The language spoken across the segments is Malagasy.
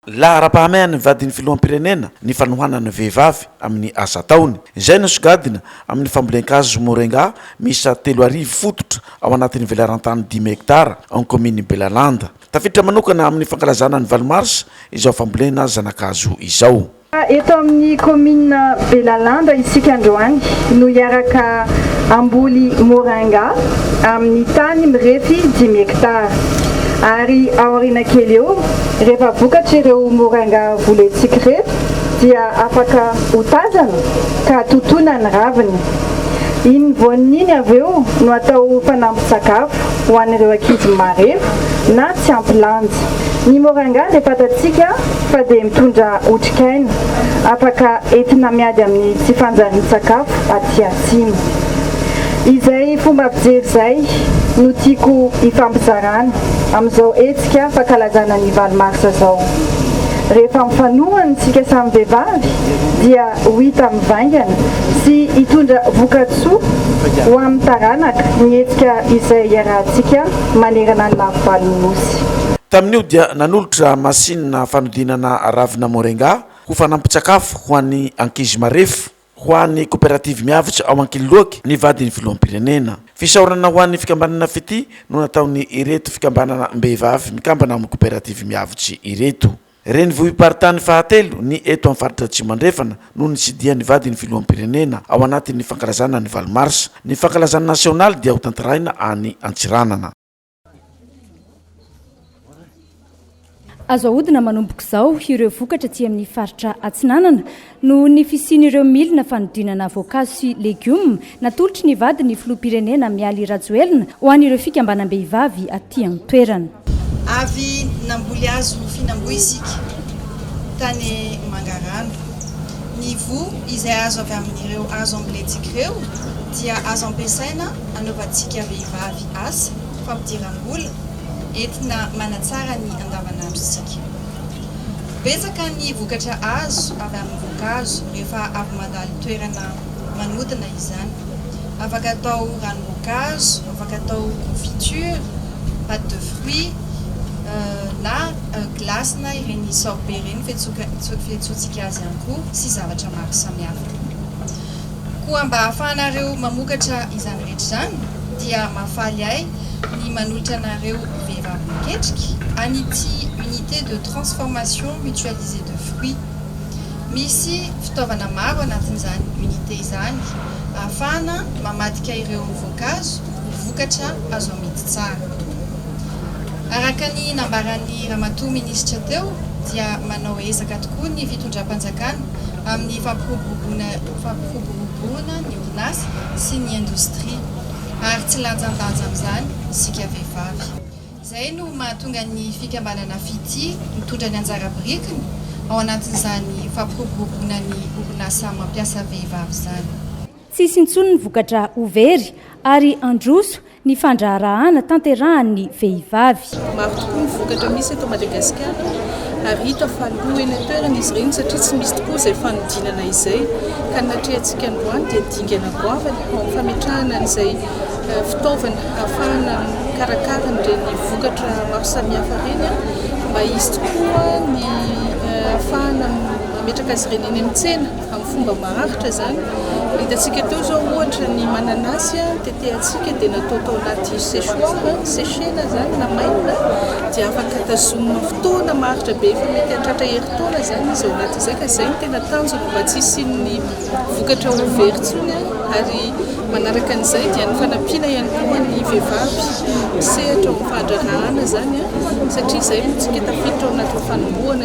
Laharam-pahamaian'ny vadin'ny filoham-pirenena ny fanohanana ny vehivavy amin'ny asa ataony. Izay no sogadina amin'ny fambolen-kazo morenga miisa telo arivo fototra ao anatin'ny velaran-tany dimy hektara ao ny kaominin'i Belalanda. Tafiditra manokana amin'ny fankalazana ny valo marsa izao fambolena zanakazo izao. Eto amin'ny kaominina Belalanda isika androany no hiaraka hamboly Moringa amin'ny tany mirefy dimy hectare. Ary aoriana kely eo, rehefa vokatra ireo Moringa volentsika ireto dia afaka ho tazana ka totoina ny raviny. Iny voaniny iny avy eo no atao fanampin-tsakafo. ho an'ireo ankizy marefo na tsy ampy lanja. Ny moringa dia fantatsika fa dia mitondra otrikaina afaka entina miady amin'ny tsy fanjarian-tsakafo aty atsimo. Izay fomba fijery izay no tiako hifampizarana amin'izao hetsika fankalazana ny valo marsa izao. Rehefa mifanohana isika samy vehivavy dia ho hita mivaingana sy hitondra vokatsoa ho amin'ny taranaka ny hetsika izay iarahantsika manerana ny lafivalon'ny Nosy. Tamin'io dia nanolotra masinina fanodinana ravina moringa ho fanampin-tsakafo ho an'ny ankizy marefo ho an'ny koperativy Miavotra ao Ankiloaky ny vadin'ny filoham-pirenena. Fisaorana ho an'ny fikambanana Fitia no nataon'ireto fikambanana mbehivavy mikambana amin'ny koperativy Miavotry ireto. Renivohi-paritany fahatelo ny eto amin'ny faritra Atsimo Andrefana no nitsidihan'ny vadin'ny filoham-pirenena ao anatin'ny fankalazana ny valo marsa. Ny fankalazana nasionaly dia hotantarahina any Antsiranana. Azo ahodina manomboka izao ireo vokatra aty amin'ny faritra Atsinanana Noho ny fisian'ireo milina fanodinana voankazo sy legioma, natolotry ny vadiny ny filoham-pirenena Mialy Rajoelina ho an'ireo fikambanam-behivavy aty an-toerana. Avy namboly hazo fihinam-boa isika tany Mangarano. Ny voa izay azo avy amin'ireo hazo ambolentsika ireo dia azo ampiasaina anaovantsika vehivavy asa fampidiram-bola entina manatsara ny andavanandrontsika. Betsaka ny vokatra azo avy amin'ny voankazo rehefa avy mandalo toerana manodina izany. Afaka atao ranom-boankazo, afaka atao confiture, pate de fruit, na glace-na ireny sorbet ireny fiantsoantsika azy ihany koa, sy zavatra maro samihafa. Koa mba hahafahanareo mamokatra izany rehetra izany, dia mahafaly ahy ny manolotra anareo vehivavy miketrika an'ity Unité de transformation mutualisée de fruits. Misy fitaovana maro anatin'izany unité izany ahafahana mamadika ireo voankazo ho vokatra azo amidy tsara. Araka ny nambaran'ny Ramatoa Minisitra teo dia manao ezaka tokoa ny fitondram-panjakana amin'ny fampiroboroboana ny orinasa sy ny indostria, ary tsy lanjandanja amin'izany isika vehivavy. Izay no mahatonga ny fikambanana Fitia mitondra ny anjara birikiny ao anatin'izany fampiroboroboana ny orinasa mampiasa vehivavy izany. Tsy hisy intsony ny vokatra ho very ary handroso ny fandraharahana tanterahan'ny vehivavy. Maro tokoa ny vokatra misy eto Madagasikara ary hita fa lo eny an-toerana izy ireny satria tsy misy tokoa izay fanodinana izay ka ny natrehantsika androany dia dingana goavana eo amin'ny fametrahana an'izay fitaovana hahafahana mikarakara an'ireny vokatra maro samihafa ireny mba hisy tokoa ny hahafahana mametraka azy ireny eny amin'ny tsena. Amin'ny fomba maharitra izany, hitantsika teo izao ohatra ny mananasy tetehantsika dia natao tao anaty sechoir, sécher-na izany, namainina, dia afaka tazomina fotoana maharitra be, efa mety hahatratra herintaona izany izy ao anatin'izay ka izay no tena tanjona mba tsy hisian'ny vokatra ho very intsony ary manaraka an'izay dia ny fanampiana ihany koa ny vehivavy misehatra ao amin'ny fahadraharahana izany satria izay no tsika tafiditra ao anatin'ny fanombohana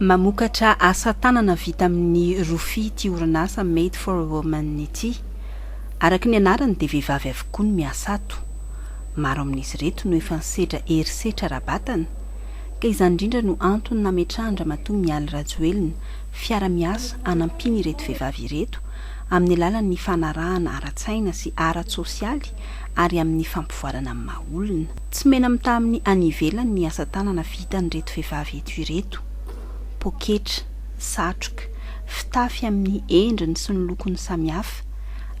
Mamokatra asa tanana vita amin'ny rofia ity orinasa Made for a Woman ity. Araka ny anarany dia vehivavy avokoa no miasa ato. Maro amin'izy ireto no efa nisedra herisetra ara-batana, ka izany indrindra no antony nametrahan-dRamatoa Mialy Rajoelina fiara-miasa hanampiana ireto vehivavy ireto amin'ny alalan'ny fanarahana ara-tsaina sy ara-tsosialy ary amin'ny fampivoarana amin'ny maha olona. Tsy mena-mitaha amin'ny any ivelany ny asa tanana vitan'ireto vehivavy eto ireto. Poketra, satroka, fitafy amin'ny endriny sy ny lokony samihafa,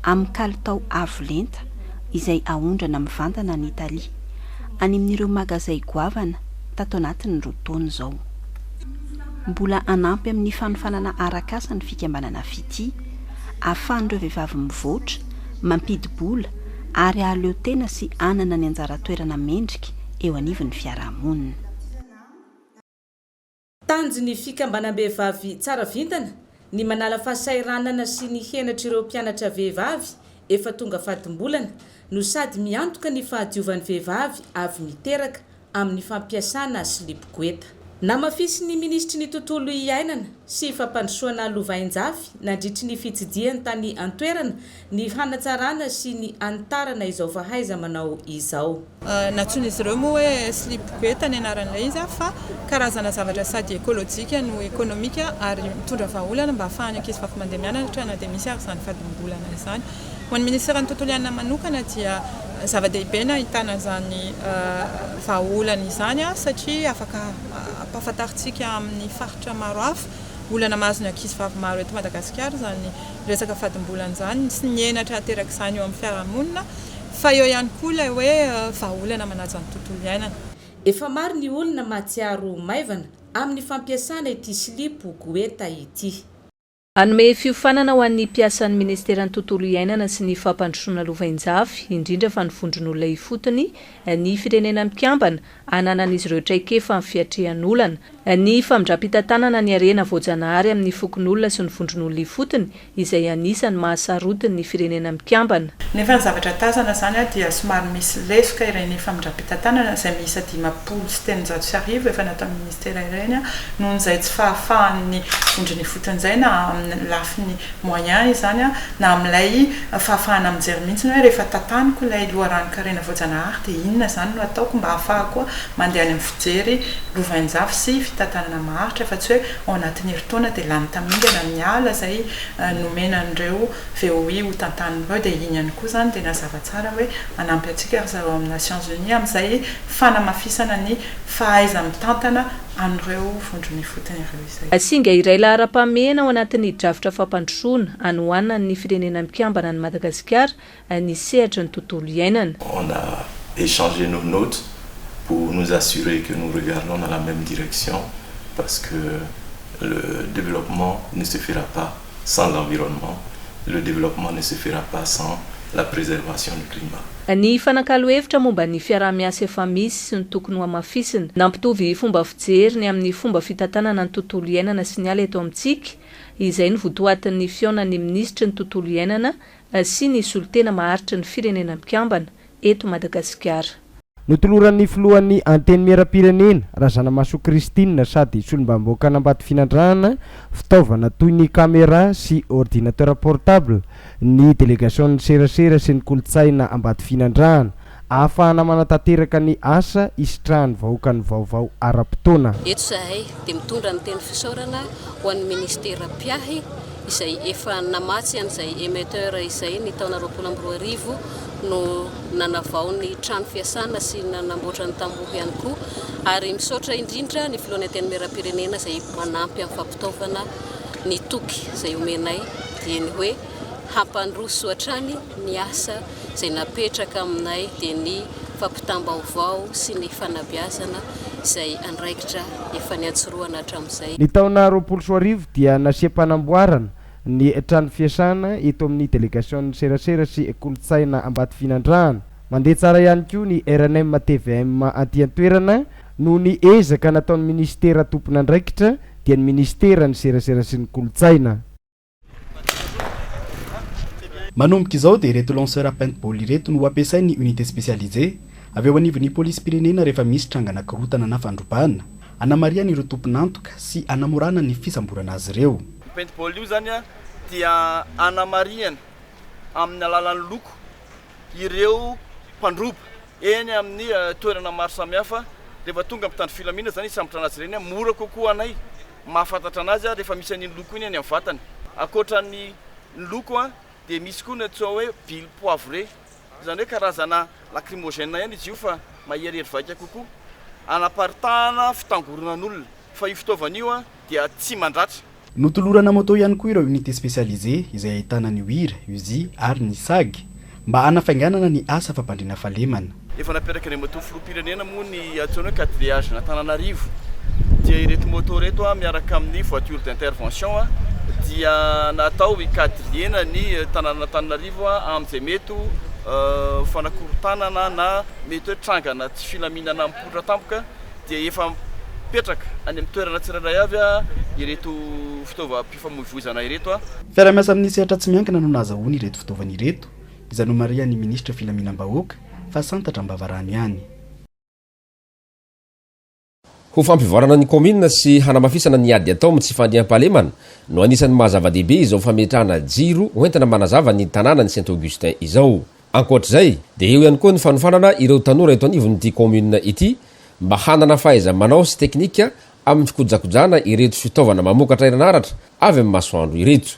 amin'ny kalitao avo lenta, izay aondrana mivantana any Italie, any amin'ireo magazay goavana, tato anatin'ny roa taona izao. Mbola hanampy amin'ny fanofanana arak'asa ny fikambanana Fitia, hahafahan'ireo vehivavy mivoatra, mampidi-bola ary hahaleo tena sy hanana ny anjara toerana mendrika eo anivon'ny fiarahamonina. Tanjon'ny fikambanam-behivavy Tsara Vintana Ny manala fahasahiranana sy ny henatr'ireo mpianatra vehivavy efa tonga fadim-bolana no sady miantoka ny fahadiovan'ny vehivavy avy miteraka amin'ny fampiasana silipo goeta. Namafisin'ny minisitry ny Tontolo iainana sy fampandrosoana lovainjafy nandritry ny fitsidihany tany an-toerana Ny fanatsarana sy ny hanitarana izao fahaiza-manao izao. Nantsoin'izy ireo moa hoe slip goeta ny anaran'ilay izy fa karazana zavatra sady ekolojika no ekonomika ary mitondra vahaolana mba hahafahan'ny ankizivavy mandeha mianatra na dia misy ary izany fadimbolana izany. Ho an'ny minisiteran'ny tontolo iainana manokana dia zava-dehibe ny ahitana izany vahaolana izany satria afaka hampahafantarintsika amin'ny faritra maro hafa olana mahazo ny ankizivavy maro eto Madagasikara izany resaka fadimbola an'izany sy ny henatra aterak'izany eo amin'ny fiarahamonina fa eo ihany koa ilay hoe vahaolana manaja ny tontolo iainana. Efa maro ny olona mahatsiaro ho maivana amin'ny fampiasana ity silipo Goeta ity. Hanome fiofanana ho an'ny mpiasan'ny Ministeran'ny Tontolo iainana sy ny Fampandrosoana Lovainjafy, indrindra fa ny vondron'olona ifotony, ny Firenena Mikambana, ananan'izy ireo traikefa amin'ny fiatrehan'olana, ny famindram-pitantanana ny harena voajanahary amin'ny fokonolona sy ny vondron'olona ifotony, izay anisan'ny maha sarotiny ny Firenena Mikambana. Nefa ny zavatra tazana izany dia somary misy lesoka ireny famindram-pitantanana izay miisa dimampolo sy telonjato sy arivo efa nataon'ny tsirairany noho izay tsy fahafahan'ny vondrona ifotony izay na amin'ny lafiny moyen izany na amin'ilay fahafahana mijery mihitsy hoe rehefa tataniko ilay loharanon-karena voajanahary dia inona izany no ataoko mba hahafahako mandeha any amin'ny fijery lovainjafy sy fitantanana maharitra fa tsy hoe ao anatin'ny herintaona dia lany tamingana ny ala izay nomena an'ireo VOI ho tantanina ireo dia iny ihany koa izany dia nazava tsara hoe manampy antsika ry zareo amina Nations Unies amin'izay fanamafisana ny fahaiza-mitantana an'ireo vondron'ifotony ireo izay. Singa iray laharam-pahamehana ao anatin'ny drafitra fampandrosoana anohanan'ny Firenena Mikambana an'i Madagasikara ny sehatry ny tontolo iainana. On a echangé nos notes pour nous assurer que nous regardons dans la même direction parce que le développement ne se fera pas sans l'environnement, le développement ne se fera pas sans la préservation du climat. Ny fanakalo hevitra momba ny fiaraha-miasa efa misy sy ny tokony hohamafisina. Nampitovy fomba fijery ny amin'ny fomba fitantanana ny tontolo iainana sy ny ala eto amintsika. Izay no votoatin'ny fihaonan'ny minisitry ny tontolo iainana sy ny solontena maharitry ny Firenena Mikambana, eto Madagasikara. Notoloran'ny filohan'ny Antenimierampirenena, Razanamahasoa Christine sady solombavambahoakan'Ambatofinandrahana fitaovana toy ny camera sy ordinateur portable ny delegasion'ny serasera sy ny kolontsaina Ambatofinandrahana ahafahana manatanteraka ny asa hisitrahan'ny vahoaka ny vaovao ara-potoana. Eto izahay dia mitondra ny teny fisaorana ho an'ny Ministera mpiahy izay efa namatsy an'izay émetteur izay ny taona roapolo amby roa arivo no nanavao ny trano fiasana sy nanamboatra ny tamboho ihany koa ary misaotra indrindra ny filohan'ny antenimieram-pirenena izay manampy amin'ny fampitaovana ny toky izay omenay dia ny hoe hampandroso hatrany ny asa izay napetraka aminay dia ny fampitam-baovao sy ny fanabeazana izay andraikitra efa niantsorohana hatramin'izay. Ny taona roapolo sy roa arivo dia nasiam-panamboarana ny trano fiasana eto amin'ny delegasion'ny serasera sy kolontsaina Ambatofinandrahana. Mandeha tsara ihany koa ny rnm tvm aty an-toerana noho ny ezaka nataon'ny minisitera tompon'andraikitra dia ny minisiteran'ny serasera sy ny kolontsaina. Manomboka izao dia ireto lanceur à paintball ireto no ho ampiasain'ny unité spécialisé avy ao anivon'ny polisim-pirenena rehefa misy trangana korontana na fandrobana, hanamarihana ireo tompon'antoka sy hanamorana ny fisamborana azy ireo. Io paintball io izany dia hanamarihana amin'ny alalan'ny loko ireo mpandroba eny amin'ny toerana maro samihafa dia efa tonga mpitandro filaminana izany hisambotra an'azy ireny, mora kokoa anay mahafantatra an'azy ary efa misy an'iny loko iny any amin'ny vatany, ankoatra ny ny loko dia misy koa ny atsoa hoe billes poivrées izany hoe karazana lacrymogène ihany izy io fa maherihery vaika kokoa anaparitahana fitangoronan'olona fa io fitaovana io dia tsy mandratra. Notolorana moto ihany koa ireo unité spécialisé izay ahitana ny wira, uzi ary ny sag mba hanafainganana ny asa fampandriana fahalemana. Efa napetraka ny moto filoham-pirenena moa ny antsoina hoe quatre viages an'Antananarivo dia ireto moto ireto miaraka amin'ny voiture d'intervention dia natao hikadliena ny tanànan'Antananarivo amin'izay mety ho fanakorontanana na mety hoe trangana tsy filaminana mipoitra tampoka dia efa mipetraka any amin'ny toerana tsirairay avy ireto fitaovam-pifamoivoizana ireto. Fiaraha-miasa amin'ny sehatra tsy miankina no nahazahoany ireto fitaovana ireto, izay nomarihan'ny minisitra filaminam-bahoaka fa santatra am-bavarano ihany. Ho fampivoarana ny kaominina sy hanamafisana ny ady atao amin'ny tsy fandriampahalemana no anisan'ny maha zava-dehibe izao fametrahana jiro hoentina manazava ny tanànan'i Saint Augustin izao. Ankoatra izay dia eo ihany koa ny fanofanana ireo tanora eto anivon'ity kaominina ity mba hanana fahaiza-manao sy teknika amin'ny fikojakojana ireto fitaovana mamokatra herinaratra avy amin'ny masoandro ireto.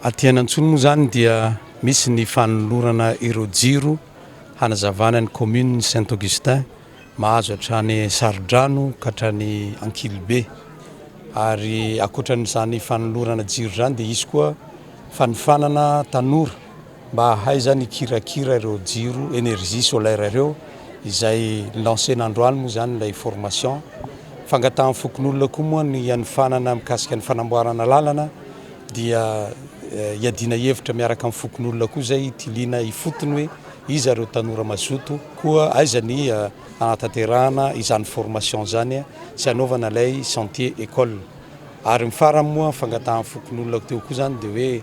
Aty Anantsony moa izany dia misy ny fanolorana ireo jiro hanazavana ny kaominin'i Saint Augustin mahazo hatrany Sarodrano ka hatrany Ankilibe ary ankoatran'izany fanolorana jiro izany dia hisy koa fanofanana tanora Mba hahay zany hikirakira ireo jiro energie solaire ireo izay lancer-na androany moa zany ilay formation. Fangatahan'ny fokonolona koa moa ny hanofanana mikasika ny fanamboarana lalana dia hiadiana hevitra miaraka amin'ny fokonolona koa izay hitiliana ifotony hoe iza ireo tanora mazoto koa aiza ny hanatanterahana izany formation izany sy hanaovana ilay sentier école. Ary ny farany moa fangatahan'ny fokonolona teo koa izany dia hoe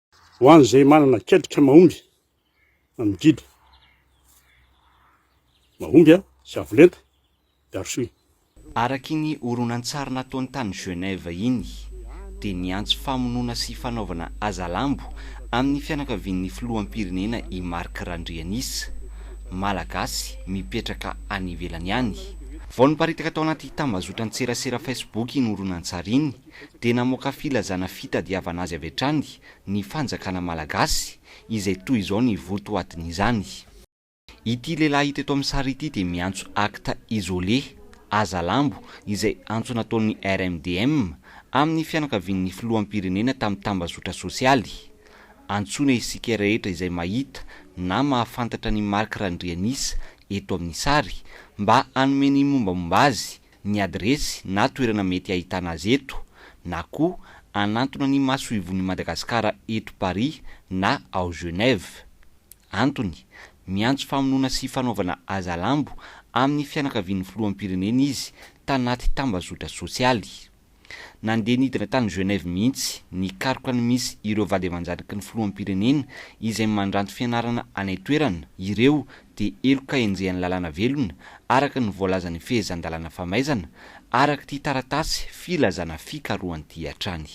Ho an'izay manana ketrika mahomby amin'ny didy mahomby sy avo lenta, Garsui. Araky ny horonantsary nataony tany Genève iny, dia niantso famonoana sy fanaovana hazalambo amin'ny fianakavian'ny filoham-pirenena i Marc Randrianisa, Malagasy mipetraka any ivelany any. Vao niparitaka tao anaty tambazotran-tserasera Facebook iny horonantsary iny, dia namoaka filazana fitadiavana azy avy hatrany ny fanjakana malagasy izay toy izao ny votoatin'izany. Ity lehilahy hita eto amin'ny sary ity dia miantso acte isolé, hazalambo, izay antso nataon'ny RMDM amin'ny fianakavian'ny filoham-pirenena tamin'ny tambazotra sosialy. Antsoina isika rehetra izay mahita na mahafantatra an'i Marc Randrianisa eto amin'ny sary mba hanome ny mombamomba azy, ny adiresy na toerana mety ahitana azy eto na koa hanantona ny Masoivohon'i Madagasikara eto Paris na ao Genève. Antony, miantso famonoana sy fanaovana hazalambo amin'ny fianakavian'ny filoham-pirenena izy tanaty tambazotra sosialy. Nandeha nidina tany Genève mihitsy nikaroka ny misy ireo vady aman-janaky ny filoham-pirenena izay mandranto fianarana any an-toerana ireo dia heloka henjehan'ny lalàna velona araka ny voalazan'ny fehezan-dalàna famaizana arak'ity taratasy filazana fikarohan'ity hatrany.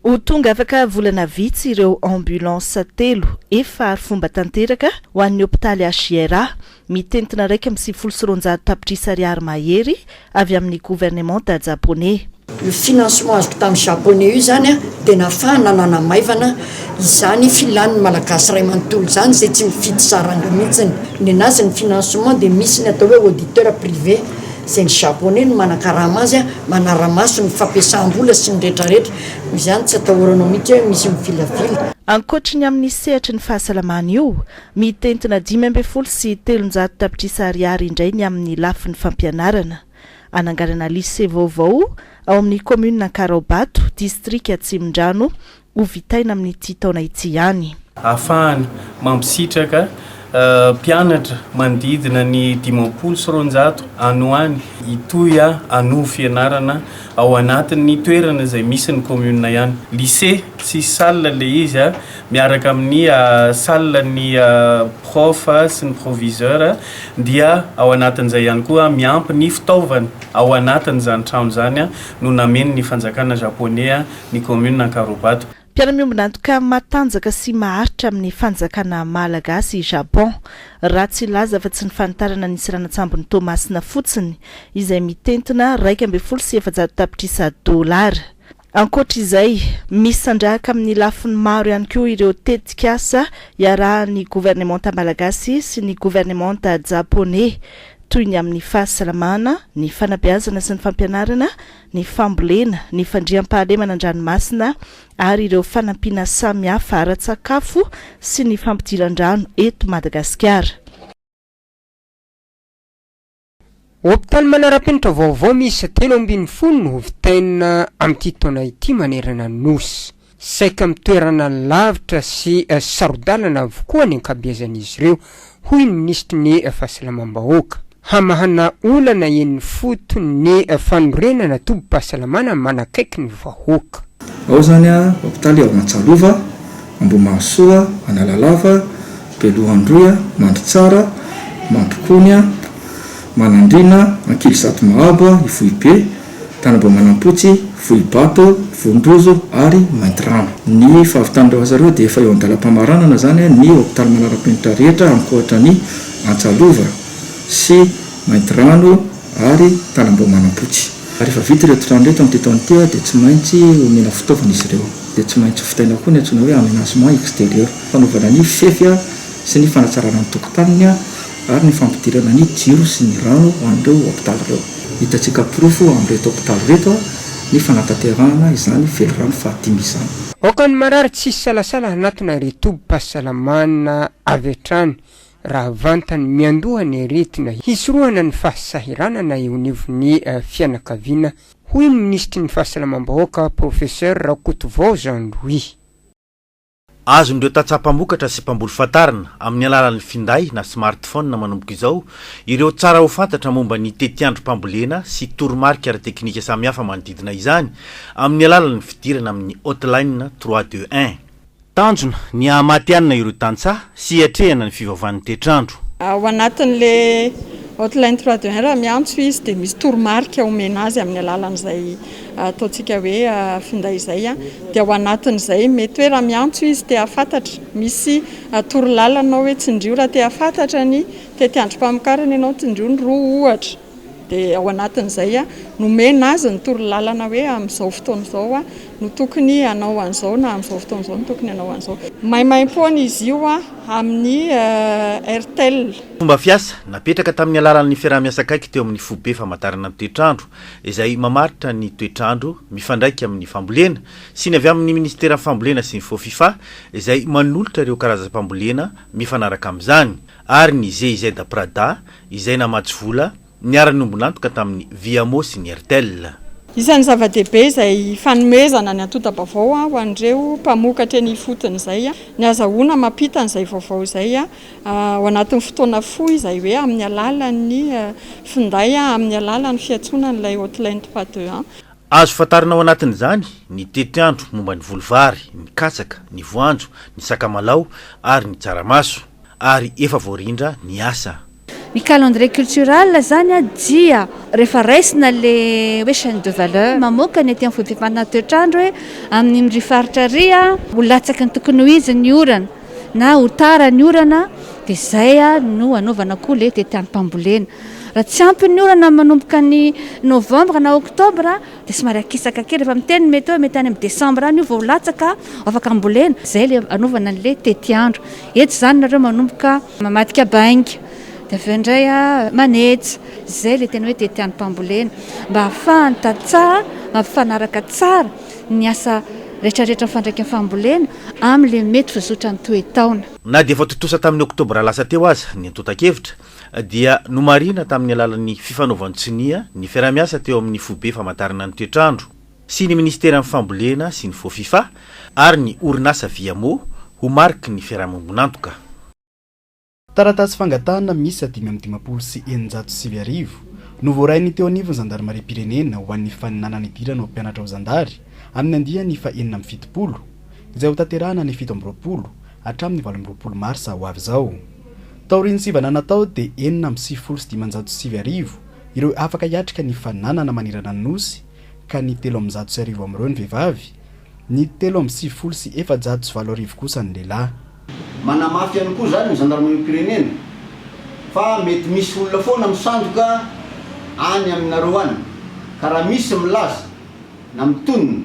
Ho tonga afaka volana vitsy ireo ambulance telo efa arifomba tanteraka ho an'ny hopitaly HJRA, mitentina iraika amby sivifolo sy roanjato tapitrisa ariary mahery avy amin'ny governemanta japoney. Io financement azoko tamin'ny japoney io izany dia nahafahana nanamaivana izany filan'ny malagasy iray manontolo izany izay tsy mifidy saranga mihitsy. Nenazy ny financement dia misy ny atao hoe auditeur privé. Izay ny Japoney no manakarama azy, manara-maso ny fampiasam-bola sy ny rehetrarehetra. Noho izany, tsy atahoranao mihitsy hoe misy mivilavila. Ankoatry ny amin'ny sehatry ny fahasalamana io, mitentina dimy ambin'ny folo sy telonjato tapitrisa ariary indray ny amin'ny lafiny fampianarana. Hananganana lycée vaovao ao amin'ny kaominina Ankaraobato, distrika Atsimondrano, ho vitaina amin'ity taona ity ihany. Ahafahana mampisitraka mpianatra manodidina ny dimampolo sy roanjato any ho any hitohy hanovo fianarana ao anatin'ny toerana izay misy ny kaominina ihany. Lycée tsisy salle ilay izy miaraka amin'ny salle ny prof sy ny proviseur dia ao anatin'izay ihany koa miampy ny fitaovana ao anatin'izany trano izany no nameno ny fanjakana Japoney ny kaominina Ankarobato. Mpiara-miombon'antoka matanjaka sy maharitra amin'ny fanjakana Malagasy i Japon. Ratsy hilaza fa tsy ny fanitarana nisy ranatsambon'i Toamasina fotsiny, izay mitentina iraika ambin'ny folo sy efajato tapitrisa dolara. Ankoatra izay, misandrahaka amin'ny lafiny maro ihany koa ireo tetikasa iarahan'ny governemanta malagasy sy ny governemanta japoney, toy ny amin'ny fahasalamana, ny fanabeazana sy ny fampianarana, ny fambolena, ny fandriampahalemana an-dranomasina ary ireo fanampiana samihafa ara-tsakafo sy ny fampidiran-drano eto Madagasikara. Hopitaly manara-penitra vaovao miisa telo ambin'ny folo no ho vitaina amin'ity taona ity manerana ny Nosy. Saika amin'ny toerana lavitra sy saro-dalana avokoa ny ankabeazan'izy ireo, hoy ny minisitry ny Fahasalamam-bahoaka. Hamahana olana eny ifotony ny fanorenana tobim-pahasalamana manakaiky ny vahoaka. Ao izany hopitaly ao Antsalova, Ambohimahasoa, Analalava, Belohandroy, Mandritsara, Mampikony, Manandriana, Ankilizato Mahabo, Ivohibe, Tanimboamanampotsy, Vohibato, Vondrozo ary Maintirano. Ny fahavitan'ireo asa ireo dia efa eo an-dalam-pamaranana izany ny hopitaly manara-penitra rehetra ankoatra ny Antsalova sy Maintirano ary Tanimboamanampotsy. Rehefa vita ireto trano ireto amin'ity taona ity dia tsy maintsy omena fitaovana izy ireo. Dia tsy maintsy vitaina koa ny antsoina hoe aménagement extérieur, fanaovana ny fefy sy ny fanatsarana ny tokotaniny. ary ny fampidirana ny jiro sy ny rano ho an'ireo hopitaly ireo. Hitantsika porofo amin'ireto hopitaly ireto ny fanatanterahana izany velirano fahadimy izany. Aoka ny marary tsy hisalasala hanatona retobi-pahasalamana avy hatrany raha vantany miandoha ny aretina hisorohana ny fahasahiranana eo anivon'ny fianakaviana, hoy ny minisitry ny Fahasalamam-bahoaka, Professeur Rakotovao Jean Louis. Azon'ireo tantsaha mpamokatra sy mpamboly fantarina, amin'ny alalan'ny finday na smartphone manomboka izao, ireo tsara ho fantatra momba ny tetiandrom-pambolena sy toromarika ara-teknika samihafa manodidina izany, amin'ny alalan'ny fidirana amin'ny hotline trois deux un. Tanjona, ny haha-matihanina ireo tantsaha, sy hiatrehana ny fivavahan'ny toetr'andro. Ao anatin'ilay Hotline trois deux un raha miantso izy dia misy toromarika omena azy amin'ny alalan'izay ataontsika hoe finday izay dia ao anatin'izay mety hoe raha miantso izy te hahafantatra misy torolalana hoe tsindrio raha te hahafantatra ny tetiandrom-pamokarana ianao, tsindrio ny roa ohatra. Dia ao anatin'izay nomena azy ny torolalana hoe amin'izao fotoana izao no tokony hanao an'izao na amin'izao fotoana izao no tokony hanao an'izao. Maimaimpoana izy io amin'ny Airtel. Fomba fiasa napetraka tamin'ny alalan'ny fiaraha-miasa akaiky teo amin'ny Foibe Famantarana ny Toetrandro izay mamaritra ny toetrandro mifandraika amin'ny fambolena sy ny avy amin'ny Ministeran'ny Fambolena sy ny Fofifa izay manolotra ireo karazam-pambolena mifanaraka amin'izany. ary ny GIZ Prada izay namatsy vola niara-niombon'antoka tamin'ny Viamo sy ny Airtel. Isan'ny zava-dehibe izay fanomezana ny antonta-baovao ho an'ireo mpamokatra eny ifotony izay ny hazahoana mampita an'izay vaovao izay ao anatin'ny fotoana fohy izay hoe amin'ny alalan'ny finday amin'ny alalan'ny fiantsoana an'ilay hotline trois deux un. Azo fantarina ao anatin'izany ny tetiandro momba ny voly vary, ny katsaka, ny voanjo, ny sakamalao ary ny tsaramaso. ary efa voarindra ny asa. Ny calendrier cultural zany dia rehefa raisina le hoe chaine de valeur mamoaka ny aty am vody fifanana toetrandro hoe amin im ry faritra ry a ho latsaky ny tokony ho izy ny orana na ho tara ny orana de zay a no anaovana koa le tetiampambolena raha tsy ampy ny orana manomboka ny novembre na octobre dia somary akisaka kely rehefa miteny ny meteo, mety any amin'ny desambra any io vao ho latsaka, vao afaka ambolena, izay ilay anaovana an'ilay tetiandro. Eto izany nareo manomboka mamadika bainga, dia avy eo indray manetsa, izay ilay tena hoe tetiandrom-pambolena, mba hahafahan'ny tantsaha mampifanaraka tsara ny asa rehetrarehetra mifandraika amin'ny fambolena amin'ilay mety ho zotran'ny toe-taona. Na dia efa tontosa tamin'ny oktobra lasa teo aza ny antontan-kevitra, dia nomarihina tamin'ny alalan'ny fifanaovan-tsonia ny fiaraha-miasa teo amin'ny Foibe Famantarana ny Toetr'andro sy ny Minisiteran'ny Fambolena sy ny Fofifa ary ny orinasa Viamo ho mariky ny fiarahamonibon'antoka. Taratasy fangatahana miisa dimy amby dimampolo sy eninjato sy sivy arivo no voarain'ny teo anivon'ny zandarimariam-pirenena ho an'ny faninanana hidirana ho mpianatra ho zandary amin'ny andiany fahenina amby fitopolo, izay hotanterahana ny fito amby roapolo hatramin'ny valo amby roapolo marsa ho avy izao. Taorian'ny sivana natao dia enina amby sivifolo sy dimanjato sy sivy arivo ireo afaka hiatrika ny fananana manerana ny Nosy ka ny telo amby zato sy arivo amin'ireo ny vehivavy, ny telo amby sivifolo sy efajato sy valo arivo kosa ny lehilahy. Manamafy ihany koa izany ny zandarimariam-pirenena fa mety misy olona foana misandoka any aminareo any ka raha misy milaza na mitonona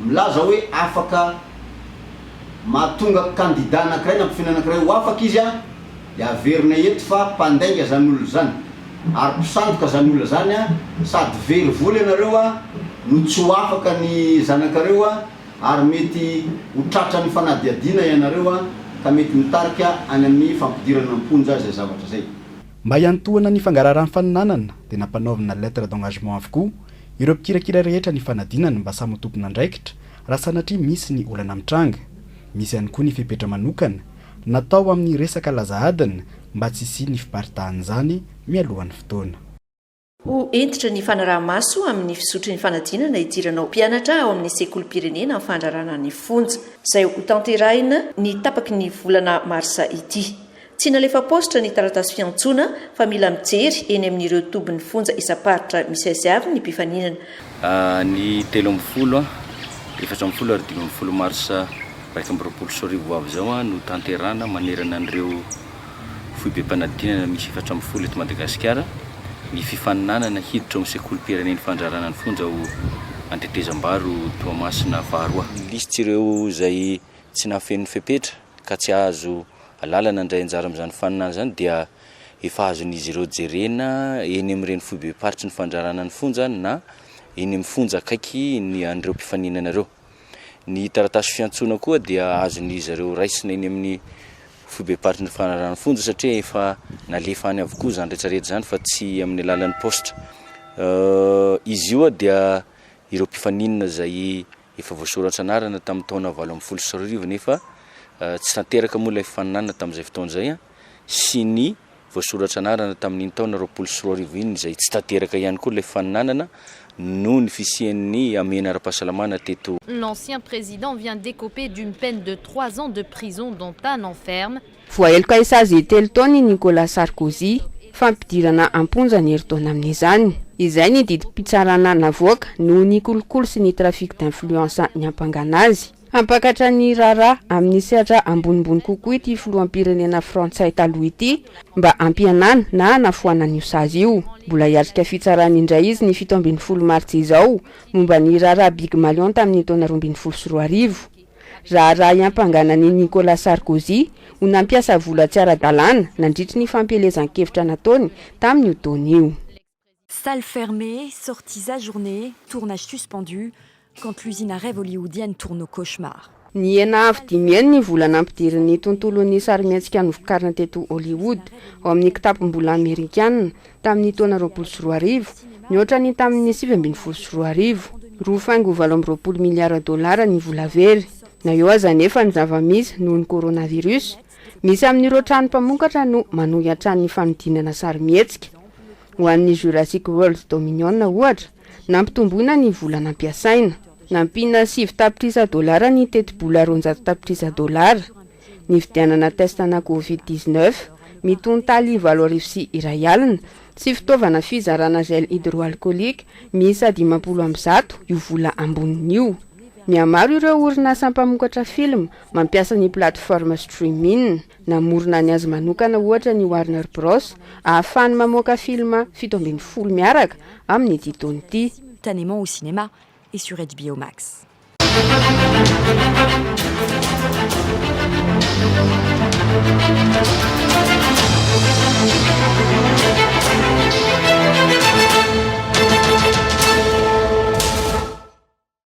Milaza hoe afaka mahatonga kandida anankiray na mpifindra anankiray ho afaka izy an, dia averina eto fa mpandainga izany olona izany ary mpisandoka izany olona izany an, sady very vola ianareo an no tsy ho afaka ny zanakareo an, ary mety ho tratran'ny fanadihadiana ianareo an, ka mety mitarika any amin'ny fampidirana am-ponja izay zavatra izay. Mba hiantohana ny fangaraharan'ny faninanana dia nampanaovina lettre d'engagement avokoa Ireo mpikirakira rehetra nifanadina ny mba samy ho tompon'andraikitra raha sanatria misy ny olana mitranga. Misy ihany koa ny fepetra manokana natao amin'ny resaka laza adina mba tsy hisian'ny fiparitahan'izany mialohan'ny fotoana. Ho hentitra ny fanaraha-maso amin'ny fizotry ny fanadinana hidirana ho mpianatra ao amin'ny sekolim-pirenena amin'ny fandrarana ny fonja, izay hotanterahina ny tapaky ny volana marsa ity. Tsy nalefa paositra ny taratasy fiantsoana fa mila mijery eny amin'ireo tobin'ny fonja isam-paritra misy azy avy ny mpifaninana. Ny telo amby folo, efatra amby folo ary dimy amby folo mars iraika amby roapolo sy roa arivo ho avy izao no tanterahana manerana an'ireo foibem-panadinana misy efatra ambin'ny folo eto Madagasikara ny fifaninanana hiditra ao amin'ny sekolim-pirenen'ny fandrarana ny fonja ao Antetezambaro Toamasina faharoa. Ny lisitry ireo izay tsy nahafeno ny fepetra ka tsy azo lalana handray anjara amin'izany faninana izany dia efa azon'izy ireo jerena eny amin'ny renifoibem-paritry ny fandrarana ny fonja na eny amin'ny fonja akaiky ny an'ireo mpifaninana ireo. Ny taratasy fiantsoana koa dia azon'izy ireo raisina eny amin'ny foibem-paritry ny fandrarana ny fonja satria efa nalefa any avokoa izany rehetra rehetra izany fa tsy amin'ny alalan'ny paositra. Izy io dia ireo mpifaninana izay Efa voasoratra anarana tamin'ny taona valo ambin'ny folo sy roa arivo nefa tsy tanteraka moa ilay fifaninanana tamin'izay fotoana izay sy ny voasoratra anarana tamin'iny taona roapolo sy roa arivo iny izay tsy tanteraka ihany koa ilay fifaninanana noho ny fisian'ny hamehana ara-pahasalamana teto L'ancien président vient d'écoper d'une peine de trois ans de prison dont un an ferme. Voaheloka hisazy telo taona i Nicolas Sarkozy, fa ampidirana am-ponja ny herintaona amin'izany. Izay ny didim-pitsarana navoaka noho ny kolikoly sy ny trafic d'influence niampangana azy. Hampakatra ny raharaha amin'ny sehatra ambonimbony kokoa ity filoham-pirenena frantsay taloha ity mba hampihenana na hanafoanana io sazy io. Mbola hiatrika fitsarana indray izy ny fito ambin'ny folo martsa izao momba ny raharaha Big Malion tamin'ny taona roa ambin'ny folo sy roa arivo. Raharaha hiampangana an'i Nicolas Sarkozy ho nampiasa vola tsy ara-dalàna nandritry ny fampielezan-kevitra nataony tamin'io taona io. Salle fermée, sorties ajournées, tournage suspendu, quand l'usine à rêves hollywoodienne tourne au cauchemar. Nihena avo dimy heny ny vola nampidirin'ny tontolon'ny sarimihetsika novokarina teto Hollywood ao amin'ny kitapom-bola amerikana, tamin'ny taona roapolo sy roa arivo, mihoatra ny tamin'ny sivy ambin'ny folo sy roa arivo. Roa faingo valo amby roapolo miliara dolara ny vola very. Na eo aza anefa ny zava-misy noho ny coronavirus, misy amin'ireo trano mpamokatra no manohy hatrany ny fanodinana sarimihetsika. Ho an'ny Jurassic World Dominion, ohatra, nampitomboina ny vola nampiasaina. Nampiana sivy tapitrisa dolara ny tetibola roanjato tapitrisa dolara. nividianana test ana covid dix neuf, ny tontaly valo arivo sy iray alina, sy fitaovana fizarana gel hydroalcoolique miisa dimampolo amby zato io vola amboniny io. Mihamaro ireo orinasa mpamokatra film mampiasa ny plateforme streaming. Namorona ny azy manokana ohatra ny Warner Bros ahafahany mamoaka film fito ambin'ny folo miaraka amin'ity taona ity. Tanements au cinéma, et sur HBO Max.